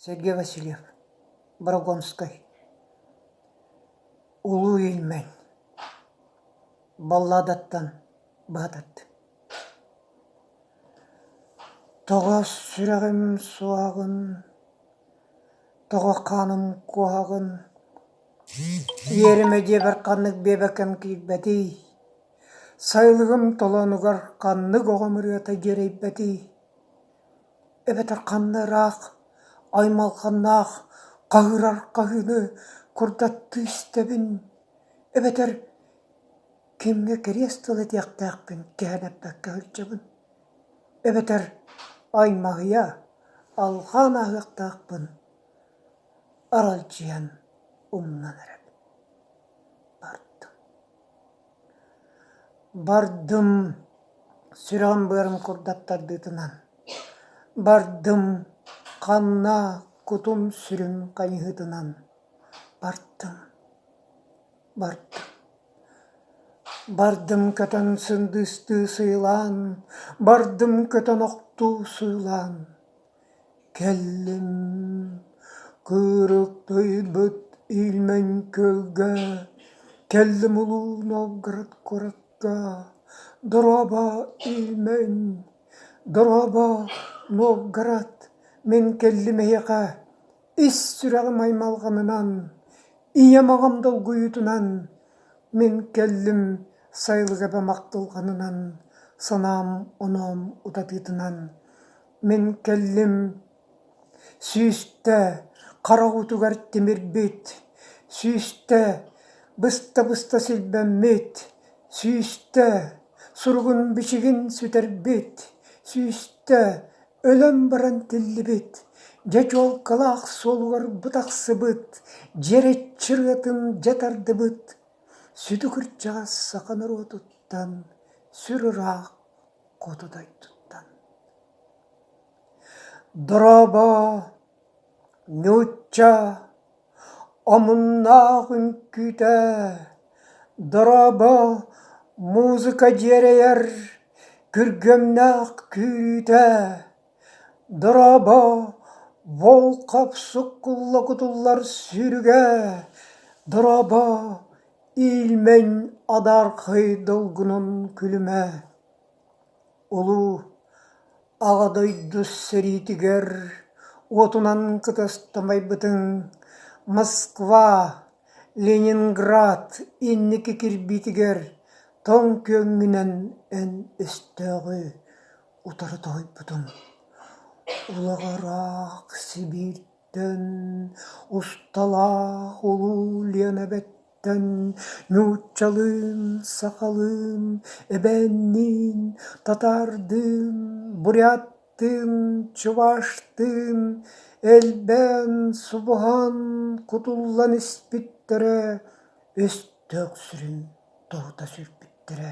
Сергей Васильев, Богородскай, Улуу Ильмень, Балладаттан баһатат. Тоҕос сүрэҕим суоҕун, тоҕо хааным куһаҕын, иэримэ диэбэр ханнык биэбэкэм киирбэтий, сайылыгым толоонугар ханнык оҕом ырыата дьиэрэйбэтий эбэтэр ханна ыраах, аймалҕаннаах хаһыырар хаһыыны курдаттыы истэбин, эбэтэр кимҥэ кэриэс тыл этиэхтээхпин кэһэн эппэккэ сылдьабын, эбэтэр аймаһыйа, алҕаан ааһыахтаахпын аралдьыйан умнан эрэбин бардым Бардым, сүрэҕим быарым курдат тардыытынан, бардым, ханна кутум сүрүн хайыһыытынан бардым, бардым, бардым көтөн сындыыстыы сыылаан, бардым көтөн охтуу сыылаан. Кэллим кырык тойбут илмэҥ күөлгэ, Кэллим Улуу Новгород куоракка, Дорообо, илмэҥ, дорообо, Новгород, мин кэллим эһиэхэ Ис сүрэҕим аймалҕанынан, ийэм аҕам долгуйуутунан, Мин кэллим сайылык эбэм ахтылҕанынан, санаам оноом утатыытынан. Мин кэллим, сүүстэ хараҕытыгар тимирбит, сүүстэ быста-быста силбэммит, сүүстэ суругун-бичигин сүтэрбит, сүүстэ өлөн баран тиллибит, дьэ чуолкалаах суолугар бу тахсыбыт, дьирэччи ырыатын дьэ тардыбыт, сүдү кырдьаҕас саха норуотуттан сүр ыраах хоту дойдуттан. Дорообо, ньучча, омуннаах үҥкүүтэ, дорообо, музыка дьиэрэйэр, күргүөмнээх күүрүүтэ, Дорообо, Волков суккулла кутуллар сүүрүгэ, дорообо, иилмэҥ адаархай долгунун күлүмэ, улуу Аҕа дойду сэриитигэр уотунан кытыстамайбытыҥ Москва, Ленинград инники кирбиитигэр тоҥ күөҥҥүнэн эн өстөөҕү утары тоһуйбутум Улаҕыраах Сибииртэн усталаах улуу Лиэнэбэттэн нууччалыын, сахалыын, эбээнниин, татаардыын, буряттыын, чуваштыын элбээн, субуһан, кутуллан испиттэрэ, өстөөх сүрүн тоһута сүүрбүттэрэ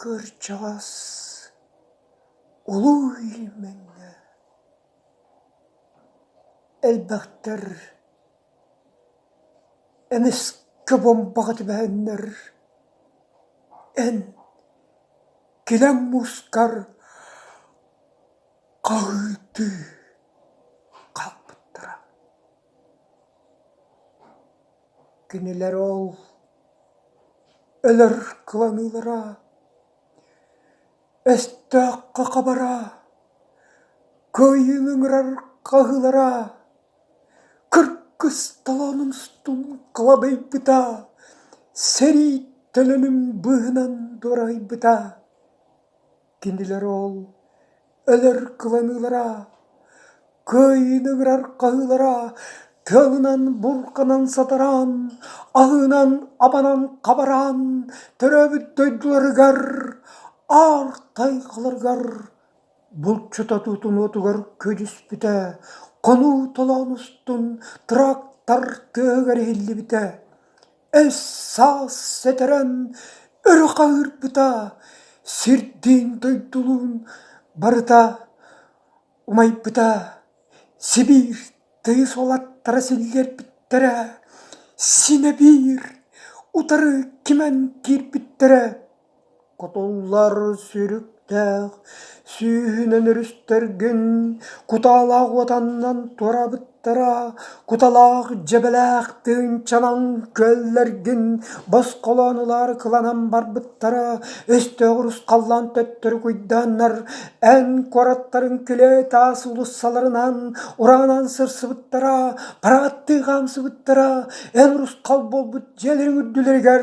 Кырдьаҕас Улуу Ильмэҥҥэ элбэхтэр эмискэ бомбаҕа түбэһэннэр эн килэҥ муускар хаһыытыы хаалбыттара Кинилэр ол өлөр кыланыылара, өстөөх хахабара, кыайыыны ыҥырар хаһыылара, кыргыс толоонун устун кылабыйбыта, сэрии төлөнүн быыһынан дуораһыйбыта. Кинилэр ол өлөр кыланыылара, кыайыыны ыҥырар хаһыылара тыалынан бурҕанан сатараан, аһыынан-абанан хабараан төрөөбүт дойдуларыгар, аар тайҕаларыгар булчута тутунуотугар көдьүспүтэ, хонуу толоон устун трактор тыаһыгар иһиллибитэ Өс-саас сэтэрэн өрө хаһыырпыта, сирдиин-дойдулуун барыта умайбыта, Сибиир тыйыс уолаттара силлиэрбиттэрэ, синэ биир утары кимэн киирбиттэрэ Кутуллар сүүрүктээх сүүһүнэн өрүстэргин кутаалаах уотаннан туораабыттара куталаах дьэбэлээх тыынчанан күөллэргин босхолоон ылаары кыланан барбыттара өстөөҕү русхаллаан төттөрү куйдааннар эн куораттарын күлээ-таас уулуссаларынан ураанан сырсыбыттара парааттыы хаамсыбыттара эн русхал буолбут дьиэлэрин үрдүлэригэр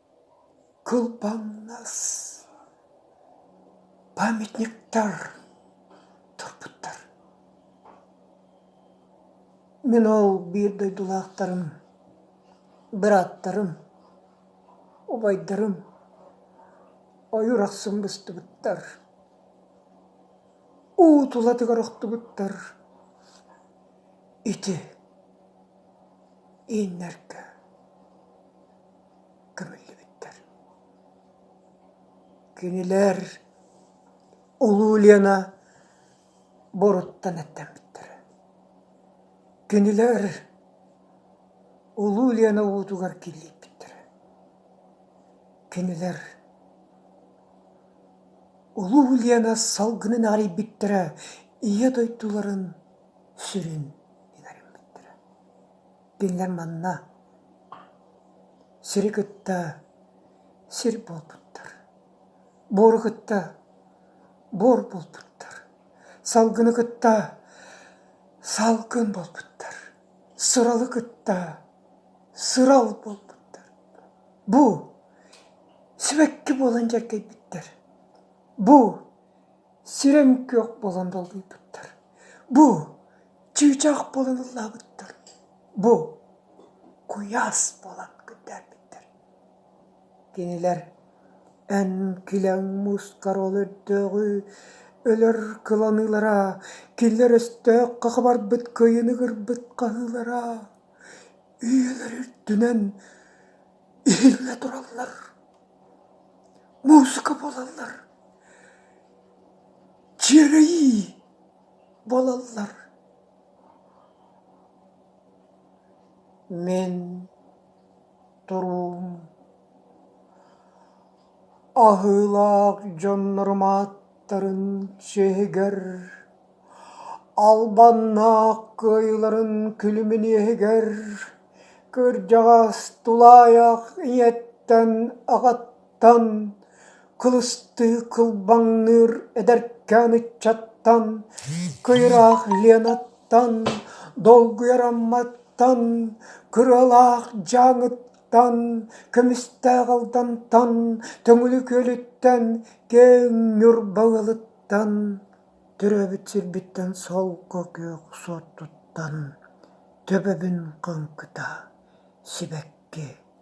Кылбаҥнас памятниктар турбуттар Мин ол биир дойдулаахтарым, бырааттарым, убайдарым ойуур ахсын быстыбыттар, уу тулатыгар охтубуттар. Ити ииннэргэ көмүллүбүттэр. Кинилэр Улуу Лена боруттан эттэммиттэрэ. Кинилэр Улуу Лена уутугар киллийбиттэрэ. Кинилэр Улуу Лена салгынын арыйбиттэрэ, ийэ дойдуларын сүрүн Биллэр манна сири кытта сир буолбуттар, буору кытта буор буолбуттар, салгыны кытта салгын буолбуттар, сыралы кытта сырал буолбуттар. Бу сибэкки буолан дьэргэйбиттэр. Бу сирэм-күөх буолан долгуйбуттар. Бу Чыычаах буолан ыллаабыттар, бу куйаас буолан күндээбиттэр Кинилэр эн килэҥ муускар ол өрдөөҕү өлөр кыланыылара, кинилэр өстөөх хахабарбыт кыайын ыгырбыт хаһыылара үйэлэр үрдүнэн иһиллэ тураллар, мууска буолаллар, дьиэлэйии! Буолаллар мин туруум аһыылаах дьоннорум ааттарын сиэһигэр албаннаах кыайыыларын күлүмүн иэһигэр кырдьаҕас тулаайах ийэттэн аҕаттан Кылыстыы кылбаҥныыр эдэркээн ыччаттан, кыйыраах Ленаттан, долгуйар Амматтан, кырыалаах Дьааҥыттан, Көмүстээх Алдантан, Төҥүлү Күөлүттэн, Киэҥ Ньур Балылыттан, төрөөбүт сирбиттэн солко күөх суоттуттан, төбөбүн хаҥкыта, сибэкки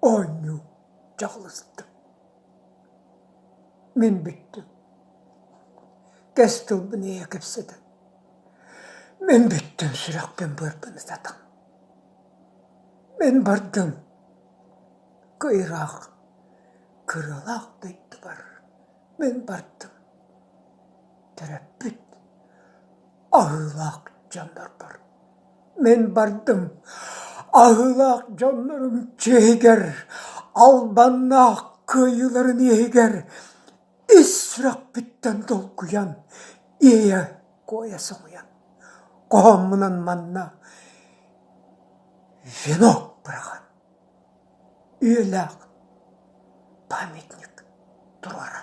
Оонньуу дьаҕаласта. Мин бүттүм. Кэс тылбын эйэ кэпсэтэ. Мин бүттүм сүрэхпин быарпына сатаҥ. Мин бардым кыйраах кыралаах дойдубар Мин бардым, төрөппүт, аһыылаах дьоннорбор. Мин бардым, аһыылаах дьоннорум чиэһигэр, албаннаах кыайыыларын иэһигэр ис сүрэхпиттэн долгуйан, иэйэ-куойа соһуйан, хоһооммунан манна венок быраҕан Үөлээх памятник туруора